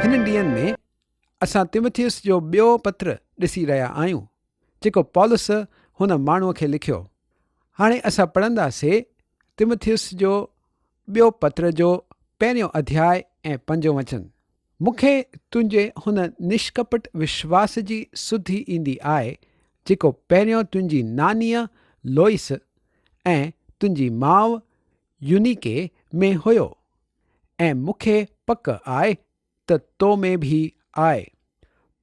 هنن ڏينهن ۾ اسان تيمٿيوس جو ٻيو پتر ڏسي رهيا آهيون، جيڪو پولس هن ماڻهوء کي لکيو. هاڻي اسان پڙهنداسين تيمٿيوس جو ٻيو پتر جو پهريون اڌياء ۽ پنجون وچن. مون کي تنهنجي هن نشڪپٽ وشواس جي سڌ ئي ايندي آء جيڪو پهريون تنهنجي نانيء لوئيس ۽ تنهنجي ماء يونيڪي ۾ هيو ۽ مون کي پڪ آء ته تو ۾ به آء.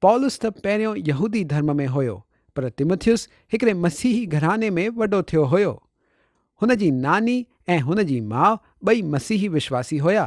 پولس ته پهريون يهودي ڌرم ۾ هيو پر تيموٿيوس هڪڙي مسيحي گهراڻي ۾ وڏو ٿيو هيو. هن جي ناني ۽ هن جي ماء ٻئي مسيحي وشواسي هيا.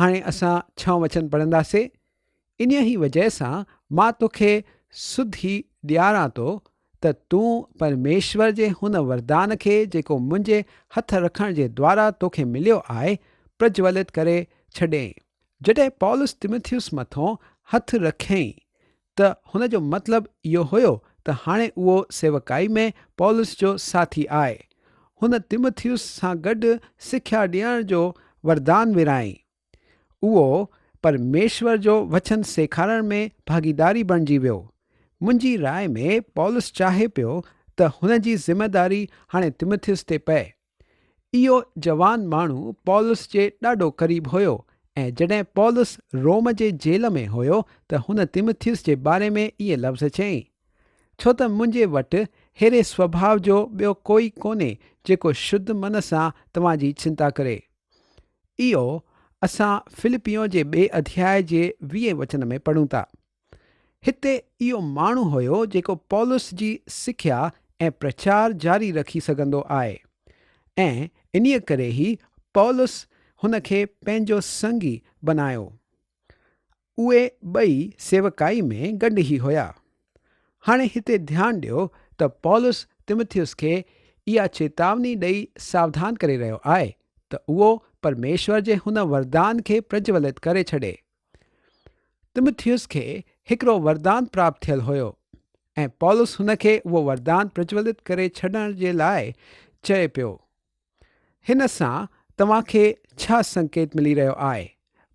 هاڻي اسان ڇهه وچن پڙهنداسي، انهيء ئي وجهه سان مان توکي سڌ هي ڏياران ٿو ته تون پرميشور جي هن وردان کي جيڪو منهنجي هٿ رکڻ جي دوارا توکي مليو آهي، پرجولت ڪري ڇڏين. جڏهن پولس تموٿيوس مٿون هٿ رکيائين ته هن جو مطلب اهو هيو ته هاڻي اهو سيوڪائي ۾ پولس جو ساٿي آهي. هن تيموٿيوس سان گڏ سکيا ڏيڻ جو وردان ورهائين. اهو پرميشور جو وچن سيکارڻ ۾ ڀاڳيداري بڻجي ويو. منهنجي راء ۾ پولس چاهي پيو ته هن جي ذميواري هاڻي تيموٿيوس تي پئي. اهو جوان ماڻهو پولس جي ڏاڍو قريب هيو، ۽ جڏهن پولس روم جي جيل ۾ هيو ته هن تيمٿيوس جي باري ۾ اهي لفظ چيائين، ڇو ته منهنجي وٽ ههڙي سوڀاء جو ٻيو ڪوئي ڪونهي جيڪو شد من سان توهان جي چنتا ڪري. اهو اسان فلپيون جي ٻئي اڌياء جي ويهين وچن ۾ پڙهون ٿا. هتي اهو ماڻهو هيو جيڪو پولس جي سکيا ۽ پرچار جاري رکي سگهندو آهي ۽ انهيء ڪري ئي پولس هن کي پنهنجو سنگي بنايو. اهي ٻئي سيوڪائي ۾ گڏ ئي هيا. هاڻي هتي ڌيان ڏيو ته پولس تموٿيوس کي اها چيتاوني ڏئي ساوڌان ڪري رهيو آهي ته اهو پرميشور جي هن وردان کي پرجولت ڪري ڇڏي. تمٿيوس کي هڪڙو وردان پراپت ٿيل هيو ۽ پولس هن کي اهو وردان پرجولت ڪري ڇڏڻ جي لاء چئي پيو، هن سان توهان کي ڇا سنڪيت ملي رهيو آهي؟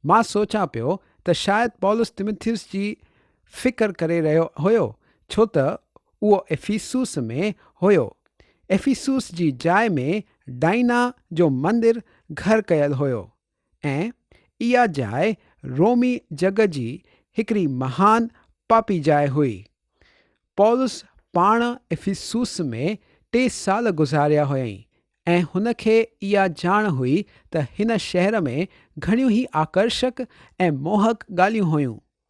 مان سوچان پيو ته شايد پولس تمٿيوس جي فڪر ڪري رهيو هيو ڇو ته اهو افيسوس ۾ هيو. افيسوس جي جاء ۾ ڊائنا جو مندر گهر ڪيل هيو. ۽ اها جاء رومي جڳ جي هڪڙي مهان پاپي جاء هئي. پولس پاڻ افسوس ۾ ٽي سال گذاريا هيائين ۽ هن کي اها ڄاڻ هئي ته هن شهر ۾ گهڻيون ئي آڪرشڪ ۽ موهڪ ڳالهيون هيون.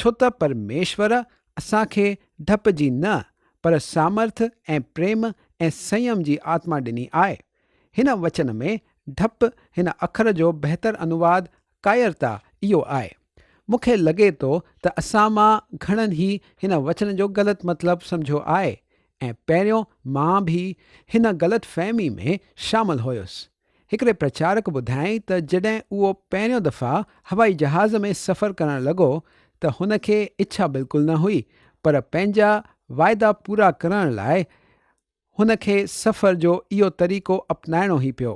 ڇو ته پرميشور اسان کي ڊپ جي نه پر سامرٿ ۽ پريم ۽ سنيم جي آتما ڏني آهي. هن وچن ۾ ڊپ هن اکر جو بهتر انواد ڪائرتا اهو آهي. مون کي لڳي ٿو ته اسان مان گهڻن هي هن وچن جو غلط مطلب سمجهيو آهي ۽ پهريون مان به هن غلط فهمي ۾ شامل هيس. هڪڙي پرچارڪ ٻڌايائين ته جڏهن اهو پهريون دفعا هوائي جهاز ۾ سفر ڪرڻ لڳو ته هن کي اڇا بلڪل نه هئي پر پنهنجا واعدا پورا ڪرڻ لاء هن کي سفر جو اهو طريقو اپنائڻو هي پيو.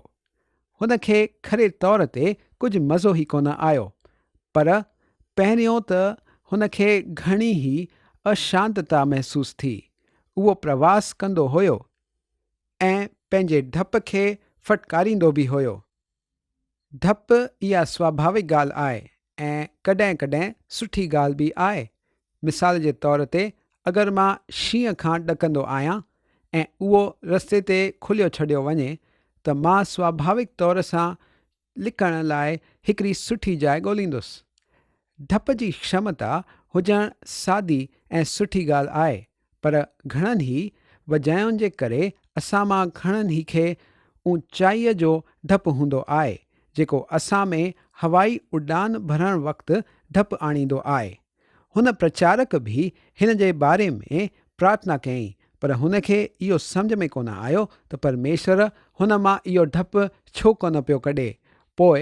هن کي کھري طور تي ڪجھ مزو هي ڪونه آيو پر پهريون ته هن کي گھڻي هي اشانتتا محسوس ٿي. اهو پرواس ڪندو هيو. ۽ پنهنجي ڊپ کي ڦٽڪاريندو به هيو. ڊپ اها سواڀاوڪ ڳالهه آهي ۽ ڪڏهن ڪڏهن سٺي ڳالهه به آهي. مثال جي طور تي اگر مان شينهن کان ڏڪندو آهيان ۽ اهو رستي تي کليو ڇڏيو وڃي ته مان سواڀاوڪ طور سان لکڻ لاء هڪڙي سٺي جاء ڳوليندس. ڊپ جي شمتا هجڻ سادي ۽ سٺي ڳالهه آهي، پر گهڻن ئي وجهين جي ڪري اسان مان گهڻن ئي کي اوچائيء جو ڊپ هوندو آهي، جيڪو اسان ۾ هوائي اڏام ڀرڻ وقت ڊپ آڻيندو آهي. هن پرچارڪ به هن جي باري ۾ پرارٿنا ڪيائين، پر هن کي اهو سمجهه ۾ ڪونه آيو ته پرميشور هن مان اهو ڊپ ڇو ڪونه پيو ڪڍي. پوء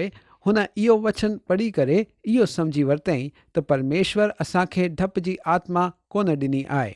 هن اهو وچن پڙهي ڪري اهو سمجهي ورتائين ته پرميشور اسان کي ڊپ جي آتما ڪونه ڏني آهي.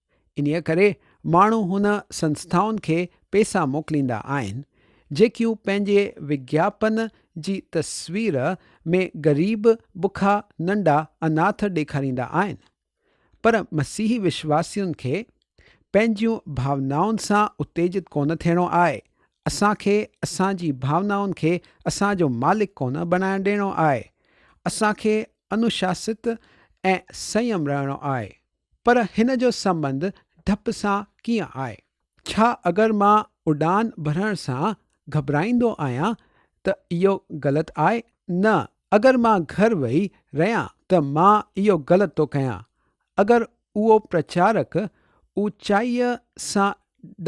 انهيء ڪري ماڻهو هن سنسٿائن کي پئسا موڪليندا آهن، جيڪيون پنهنجي وگياپن جي تصوير ۾ غريب، بکا، ننڍا، اناٿ ڏيکاريندا آهن، پر مسيحي وشواسين کي پنهنجيون ڀاونائن سان اتيجت ڪونه ٿيڻو آهي، اسان کي اسان جي ڀاونائن کي اسان جو مالڪ ڪونه بڻائڻ ڏيڻو آهي، اسان کي انوشاسيت ۽ سنيم رهڻو آهي. پر هن جو سنٻنڌ ڊپ سان ڪيئن آهي؟ ڇا اگر مان اڏان ڀرڻ سان گهٻرائيندو آهيان ته اهو غلط آهي؟ نه، اگر مان گهر ويهي رهيان ته مان اهو غلط ٿو ڪيان. اگر اهو پرچارڪ اوچائيء سان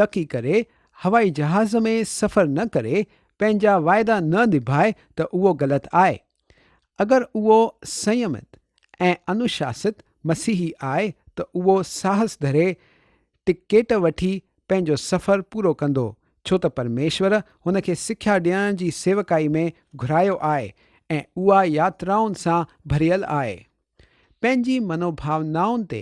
ڏڪي ڪري هوائي جهاز ۾ سفر نه ڪري، پنهنجا واعدا نه نڀائي ته اهو غلط آهي. اگر اهو سنيمت ۽ انوشاسيت مسيحي آهي ته اهو ساهس ڌري ٽڪيٽ وٺي پنهنجو سفر پورو ڪندو ڇو ته پرميشور هن کي سکيا ڏيڻ جي سيوڪائي ۾ گهرايو آهي ۽ اها ياترائن سان ڀريل آهي. پنهنجي منوڀاونائن تي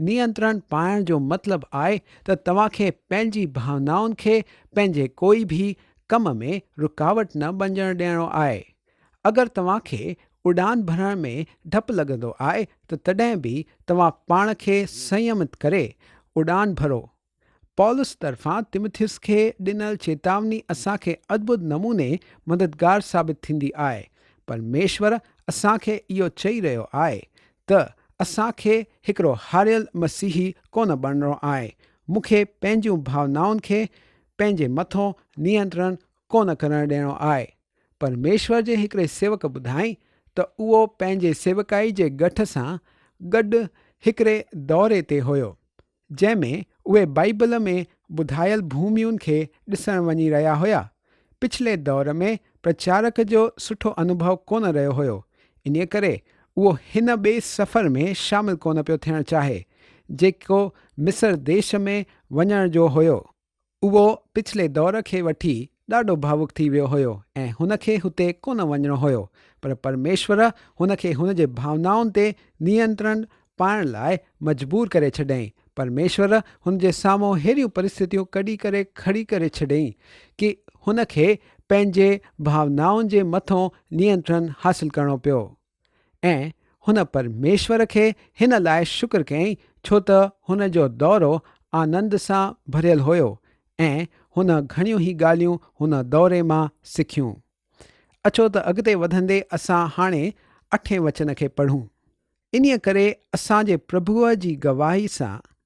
نينترڻ پائڻ جو مطلب آء ته توهان کي پنهنجي ڀاونائن کي پنهنجي ڪوئي ڀي ڪم ۾ رڪاوٽ نه بنجڻ ڏيڻو آء. اگر توهان کي اڏان ڀرڻ ۾ ڊپ لڳندو آء ته تڏهن به توهان پاڻ کي سنيمت ڪري اڏان ڀرو پولس طرفان تيمٿيس کي ڏنل چيتاوني اسان کي ادڀت نموني مددگار ثابت ٿيندي آهي. پرميشور اسان کي اهو چئي رهيو آهي ته اسان کي هڪڙو هاريل مسيحي ڪونه بڻڻو آهي. مون کي پنهنجون ڀاونائن کي پنهنجي مٿو نينترڻ ڪونه ڪرڻ ڏيڻو آهي. پرميشور جي هڪڙي سيوڪ ٻڌائين ته اهو پنهنجي سيوڪائي جي ڳٺ سان گڏ هڪڙي دوري تي هيو. جنهن ۾ اهي بائيبل ۾ ٻڌايل ڀوميون کي ڏسڻ وڃي رهيا هيا. پڇلي دور ۾ پرچارڪ جو سٺو انوڀو ڪونه رهيو هيو، انهيء ڪري اهو هن ٻئي سفر ۾ شامل ڪونه پيو ٿيڻ چاهي، جيڪو مصر ديش ۾ وڃڻ جو هيو. اهو پڇلي دور کي وٺي ڏاڍو ڀاوڪ ٿي ويو هيو ۽ هن کي هتي ڪونه وڃڻو هيو پر پرميشور هن کي هن جي ڀاونائن تي نينترڻ پائڻ لاء مجبور ڪري ڇڏيائين. پرميشور هن جي سامهون ههڙيون پرستتيون ڪڍي ڪري کڙي ڪري ڇڏيائين ڪي هن کي پنهنجي ڀاونائن جي مٿون نينترڻ حاصل ڪرڻو پيو. ۽ هن پرميشور کي هن لاء شڪر ڪيائين ڇو ته هن جو دورو آنند سان ڀريل هيو ۽ هن گهڻيون ئي ڳالهيون هن دوري مان سکيون. اچو ته اڳتي وڌندي اسان هاڻي اٺين وچن کي پڙهون. انهيء ڪري اسان جي پرڀوء جي گواهيء سان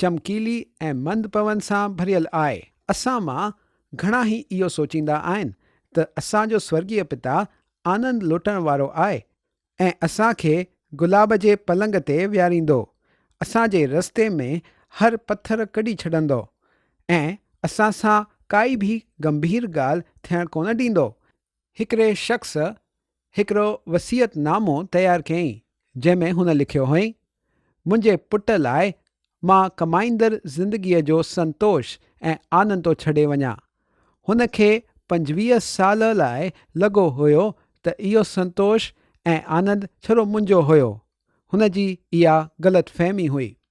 چمڪيلي ۽ مند پون سان ڀريل آء. اسان مان گهڻا هي اهو سوچيندا آهن ته اسان جو سورڳيه پتا آنند لٽڻ وارو آء ۽ اسان کي گلاب جي پلنگ تي ويهاريندو، اسان جي رستي ۾ هر پٿر ڪڍي ڇڏندو ۽ اسان سان ڪائي به گنڀير ڳالهه ٿيڻ ڪونه ڏيندو. هڪڙي شخص هڪڙو وصيت نامو تيار ڪيائين، جنهن ۾ هن لکيو هئائين، منهنجي پٽ لاء مان ڪمائيندڙ زندگيء جو سنتوش ۽ آنند ٿو ڇڏي وڃان. هن کي پنجويهه سال لاء لڳو هيو ته اهو سنتوش ۽ آنند ڇرو منهنجو هيو. هن جي اها غلط فهمي هئي.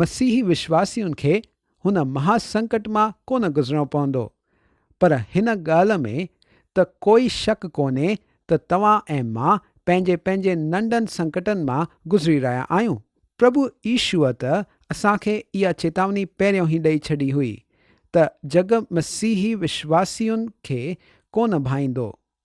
مسيحي وشواسين کي هن مها سنڪٽ مان ڪونه گذرڻو پوندو، پر هن ڳالهه ۾ ته ڪوئي شڪ ڪونهي ته توهان ۽ مان پنهنجي پنهنجي ننڍن سنڪٽن مان گذري رهيا آهيون. پرڀو عيشوء ته اسان کي اها چيتاوني پهريون ئي ڏئي ڇڏي هئي ته جڳ مسيحي وشواسين کي ڪونه ڀائيندو،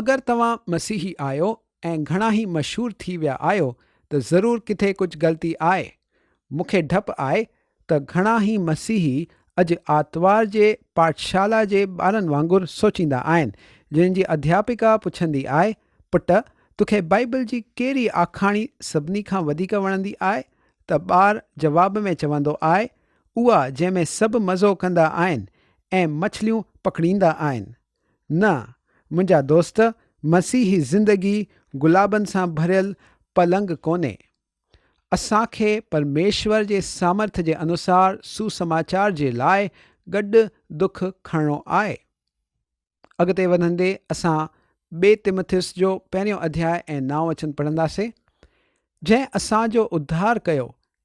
اگر توهان مسيحي آهيو ۽ گهڻاهي مشهور ٿي ويا آهيو ته ضرور ڪٿي ڪجهه غلطي آهي. مون کي ڊپ آهي ته گهڻاهي مسيحي اڄ آتوار جي پاٺشالا جي ٻارن وانگر سوچيندا آهن جنهن جي اڌياپڪا پڇندي آهي پٽ توکي بائيبل جي ڪهڙي آکاڻي سڀني کان وڌيڪ وڻندي آهي ته ٻار جواب ۾ چوندو آهي اها جنهن ۾ سڀ مزو ڪندا آهن ۽ مڇليون پڪڙيندا آهن نه، منهنجا دوست، مسيحي زندگي گلابن سان ڀريل پلنگ ڪونهي. اسان کي پرميشور جي سامرٿ جي انوسار سوسماچار جي لاء گڏ دک کڻڻو آهي. اڳتي وڌندي اسان ٻئي تمٿيوس جو پهريون اڌياء ۽ نائون وچن پڙهنداسين، جنهن اسان جو اڌار ڪيو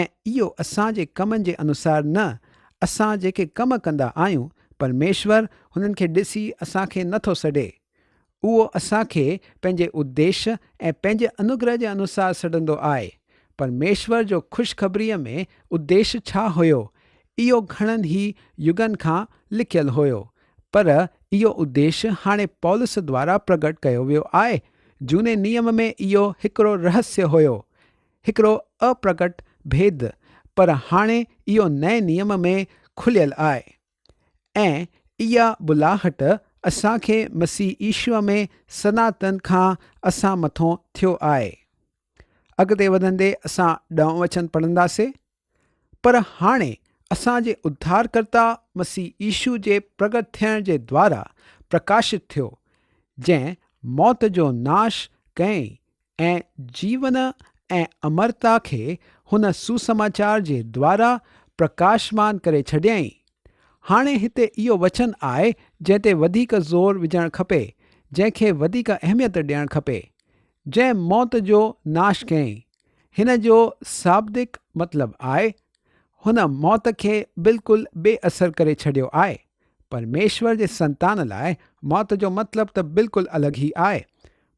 ۽ اهو اسان جي ڪمن جي انوسار نه، اسان جيڪي ڪم ڪندا آهيون، پرميشور هنن کي ڏسي اسان کي نه ٿو سڏي. اهو اسان کي پنهنجي اديش ۽ پنهنجي انوگره جي انوسار سڏندو آهي. پرميشور جو خوشخبريء ۾ اديش ڇا هيو؟ اهو گهڻن ئي يگن کان لڪيل هيو. پر اهو اديش هاڻي پولس دوارا پرگٽ ڪيو ويو آهي. جهوني نيم ۾ اهو هڪڙو رهسيه هيو. هڪڙو اپرگٽ ڀيد پر هاڻي اهو نئين نيم ۾ کليل آهي ۽ اها ٻلاهٽ اسان کي مسيح عيشوء ۾ سناتن کان اسان مٿون ٿيو آهي. اڳتي وڌندي اسان ڏهون وچن پڙهنداسين. پر هاڻي اسان جي اڌارڪرتا مسيح عيسو جي پرگٽ ٿيڻ جي دوارا پرڪاشت ٿيو، جنهن موت جو ناش ڪيائين ۽ جيون ۽ امرتا کي هن سوسماچار جي دوارا پرڪاشمان ڪري ڇڏيائين. هاڻي هتي اهو وچن آهي جنهن تي وڌيڪ زور وجهڻ کپي، جنهن کي وڌيڪ اهميت ڏيڻ کپي. جنهن موت جو ناش ڪيائين، هن جو شابدڪ مطلب آهي، هن موت کي بلڪل بي اثر ڪري ڇڏيو آهي. پرميشور جي سنتان لاء موت جو مطلب ته بلڪل الڳ ئي آهي.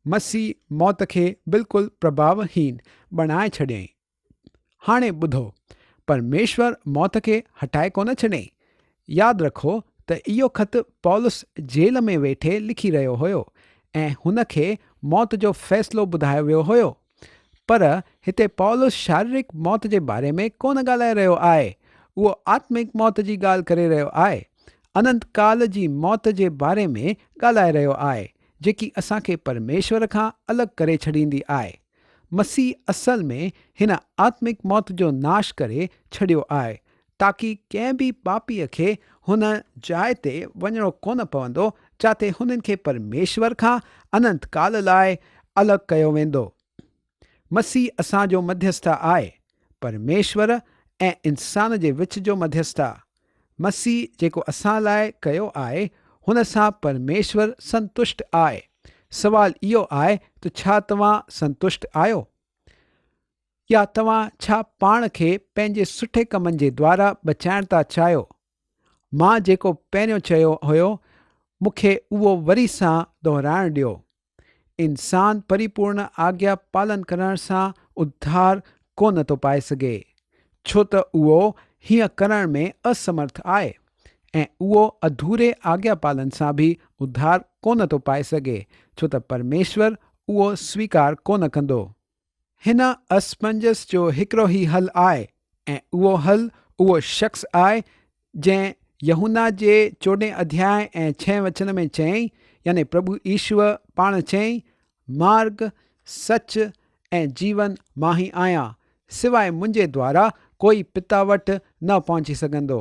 مسيح موت کي بلڪل پرڀاوهين بڻائي ڇڏيائين. هاڻي ٻڌو، پرميشور موت کي هٽائي ڪونه ڇڏيائين. ياد رکو ته اهو خط پولس جيل ۾ ويٺي لکي رهيو هيو ۽ هن کي موت جو فيصلو ٻڌايو ويو هيو. پر هتي پولس شاريرڪ موت جي باري ۾ ڪونه ڳالهائي رهيو آهي، اهو آتمڪ موت جي ڳالهه ڪري رهيو آهي، اننت ڪال جي موت جي باري ۾ ڳالهائي رهيو آهي، جيڪي اسان کي پرميشور کان الڳ ڪري ڇڏيندي آهي. مسيح اصل ۾ هن آتمڪ موت جو ناش ڪري ڇڏيو آهي تاڪي ڪنهن به پاپيء کي هن جاء تي وڃڻو ڪونه پوندو جاتي هنن کي پرميشور کان اننت ڪال لاء الڳ ڪيو ويندو. مسيح اسان جو مڌيسٿ آهي، پرميشور ۽ انسان جي وچ جو مڌيسٿ آهي. مسيح جيڪو اسان لاء ڪيو آهي هن سان پرميشور سنتشٽ آهي. سوال اهو آهي ته ڇا توهان سنتشٽ آهيو؟ يا توهان ڇا پاڻ کي پنهنجي سٺي ڪمن جي دوارا بچائڻ ٿا چاهيو؟ مان جيڪو پهريون چيو هيو مون کي اهو وري سان دهرائڻ ڏيو. انسان پريپورڻ آگيا پالن ڪرڻ سان اڌار ڪونه ٿو پائي سگهي، ڇو ته اهو هيئن ڪرڻ ۾ اسمرٿ آهي ۽ اهو اڌوري آگيا پالن سان به اڌار ڪونه ٿو پائي سگهي، ڇو ته پرميشور اهو سويڪار ڪونه ڪندو. هن اسفنجس جو هڪڙو ئي حل آء ۽ اهو حل اهو شخص آء جنهن يحنا جي چوڏهين اڌياء ۽ ڇهين وچن ۾ چيائين يعني پرڀو عيشوء پاڻ چيائين مارگ سچ ۽ جيون مان ئي آهيان سواء منهنجي دوارا ڪوئي پتا وٽ نه پهچي سگهندو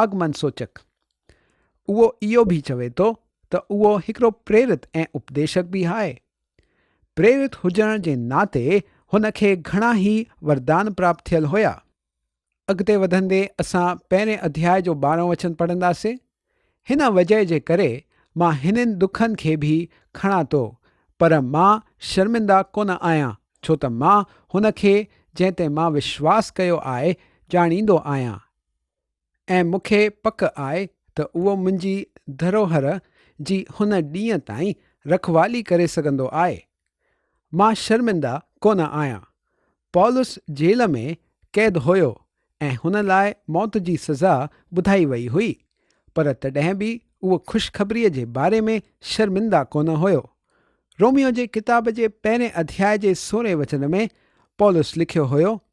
آگمن سوچڪ، اهو اهو به چوي ٿو ته اهو هڪڙو پريرت ۽ اپديشڪ به آهي. پريرت هجڻ جي ناتي هن کي گهڻا ئي وردان پراپت ٿيل هيا. اڳتي وڌندي اسان پهرين اڌياء جو ٻارهون وچن پڙهنداسين. هن وجهه جي ڪري مان هنن ڏکن کي به کڻان ٿو، پر مان شرمنده ڪونه آهيان، ڇو ته مان هن کي جنهن تي مان وشواس ڪيو آهي، ڄاڻيندو آهيان. ۽ مون کي پڪ آهي ته اهو منهنجي ڌروهر جي هن ڏينهن تائين رکوالي ڪري سگهندو آهي. مان شرمنده ڪونه آهيان. پولس جيل ۾ قيد هيو ۽ هن لاء موت جي سزا ٻڌائي وئي هئي، پر تڏهن به اهو خوشخبريء جي باري ۾ شرمنده ڪونه هيو. روميو جي ڪتاب جي پهرين اڌياء جي سورهين وچن ۾ پولس لکيو هيو ته.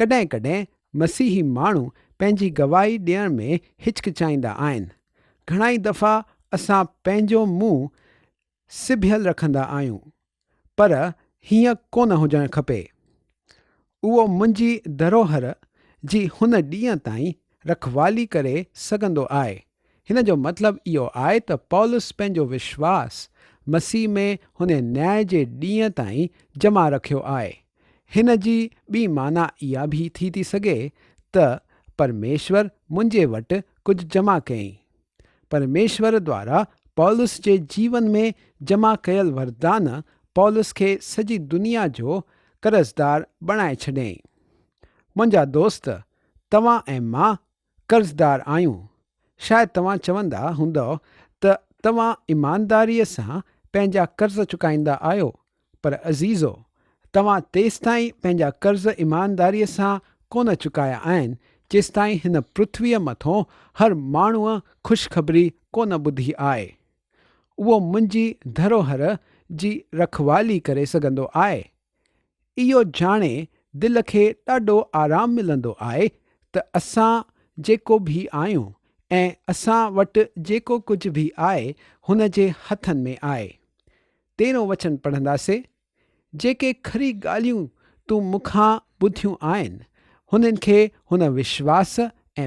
ڪڏهن ڪڏهن مسيحي ماڻهو پنهنجي گواهي ڏيڻ ۾ هچڪچائيندا آهن. گهڻائي دفعا اسان پنهنجو منهن سبيل رکندا آهيون، پر هيئن ڪونه هجڻ کپي. اهو منهنجي ڌروهر جي هن ڏينهن تائين رکوالي ڪري سگهندو آهي. هن جو مطلب اهو آهي ته پولس پنهنجو وشواس مسيح ۾ هن نياء جي ڏينهن تائين جمع رکيو آهي. هن جي ٻي معنيٰ اها به ٿي ٿي سگهي ته پرميشور منهنجي وٽ ڪجهه جمع ڪيائين. پرميشور دوارا پولس جي جيون ۾ جمع ڪيل وردان پولس کي سڄي دنيا جو قرضدار بڻائي ڇڏيائين. منهنجا دوست، توهان ۽ مان قرضدار آهيون. شايد توهان چوندا هوندؤ ته توهان ايمانداريء سان پنهنجا قرض چڪائيندا آهيو، پر عزيزو! توهان تيستائين پنهنجا قرض ايمانداريء سان ڪونه چڪايا آهن، جيستائين هن پرٿويء مٿون هر ماڻهوء خوشخبري ڪونه ٻڌي آهي. اهو منهنجي ڌروهر جي رکوالي ڪري سگهندو آهي، اهو ڄاڻي دل کي ڏاڍو آرام ملندو آهي ته اسان جيڪو به آهيون ۽ اسان وٽ جيڪو ڪجهه به آهي هن جي هٿن ۾ آهي. تيرهون وچن پڙهنداسين، جيڪي کري ڳالهيون تون مون کان ٻڌيون آهن، هنن کي هن وشواس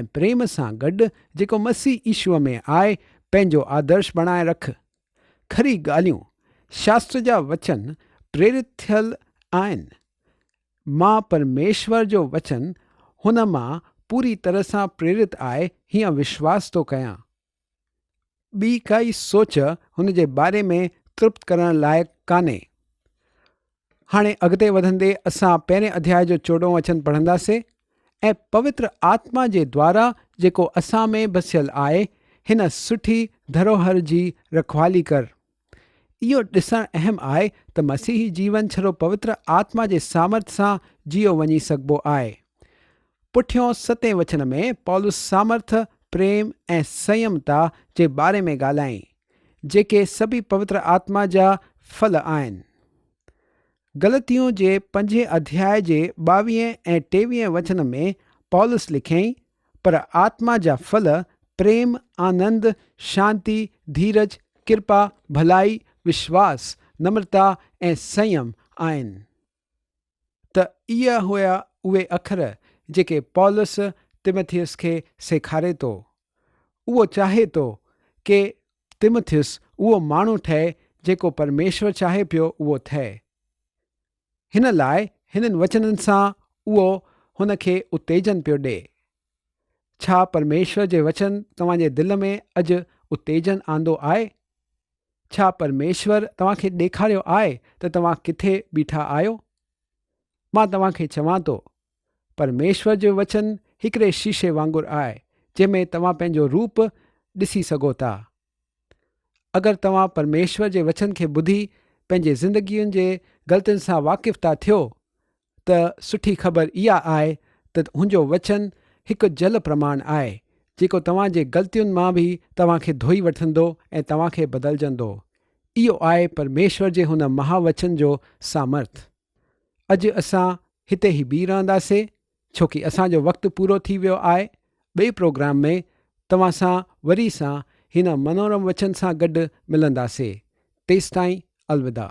۽ پريم سان گڏ جيڪو مسيح عيشوء ۾ آهي، پنهنجو آدرش بڻائي رک. کري ڳالهيون شاستر جا وچن پريرت ٿيل آهن. مان پرميشور جو وچن هن مان پوري طرح سان پريرت آهي هيئن وشواس ٿو ڪيان. ٻي ڪائي سوچ هن جي باري ۾ ترپت ڪرڻ لائق ڪانهي. هاڻي اڳتي وڌندي اسان پهرين اڌياء جو چوڏهون وچن پڙهنداسين ۽ پوتر آتما جي دوارا جيڪو اسان ۾ بسيل آهي هن سٺي ڌروهر جي رکوالي ڪر. اهو ڏسڻ اهم آهي ته مسيحي جيون ڇڙو پوتر آتما جي سامرٿ سان جيئو وڃي سگهبو آهي. پٺيون ستين وچن ۾ پولس سامرٿ، پريم ۽ سنيمتا جي باري ۾ ڳالهائين، جيڪي سڀئي پوتر آتما جا ڦل آهن. غلطيون جي پنجين اڌياء جي ٻاويهين ۽ ٽيويهين وچن ۾ پولس لکيائين، پر آتما جا ڦل پريم، آنند، شانتي، ڌيرج، ڪرپا، ڀلائي، وشواس، نمرتا ۽ سنيم آهن. ته اهي هيا اهي اکر جيڪي پولس تيمٿيس کي سيکاري ٿو. اهو چاهي ٿو ڪي تيمٿيس اهو ماڻهو ٺهي جيڪو پرميشور چاهي پيو اهو ٿئي. هن لاء هنن وچنن سان اهو هن کي اتيجن پيو ڏي. ڇا پرميشور جي وچن توهان جي دل ۾ اڄ اتيجن آندو آهي؟ ڇا پرميشور توهان کي ڏيکاريو آهي ته توهان ڪٿي بيٺا آهيو؟ مان توهان کي چوان ٿو، پرميشور جو وچن هڪڙي شيشي وانگر آهي، جنهن ۾ توهان پنهنجو روپ ڏسي سگهو ٿا. اگر توهان پرميشور جي وچن کي ٻڌي پنهنجي زندگين جي غلطين سان واقف ٿا ٿيو ته سٺي خبر اها آهي ته تنهنجو وچن هڪ جل پرماڻ آهي، جيڪو توهان جي غلطين مان به توهان کي ڌوئي وٺندو ۽ توهان کي بدلجندو. اهو آهي پرميشور جي هن مها وچن جو سامرٿ. اڄ اسان هتي ئي بيهي رهنداسي ڇو ڪي اسان جو وقت پورو ٿي ويو آهي. ٻئي پروگرام ۾ توهان سان وري سان هن منورم وچن سان گڏ ملنداسي. تيستائين الوداع.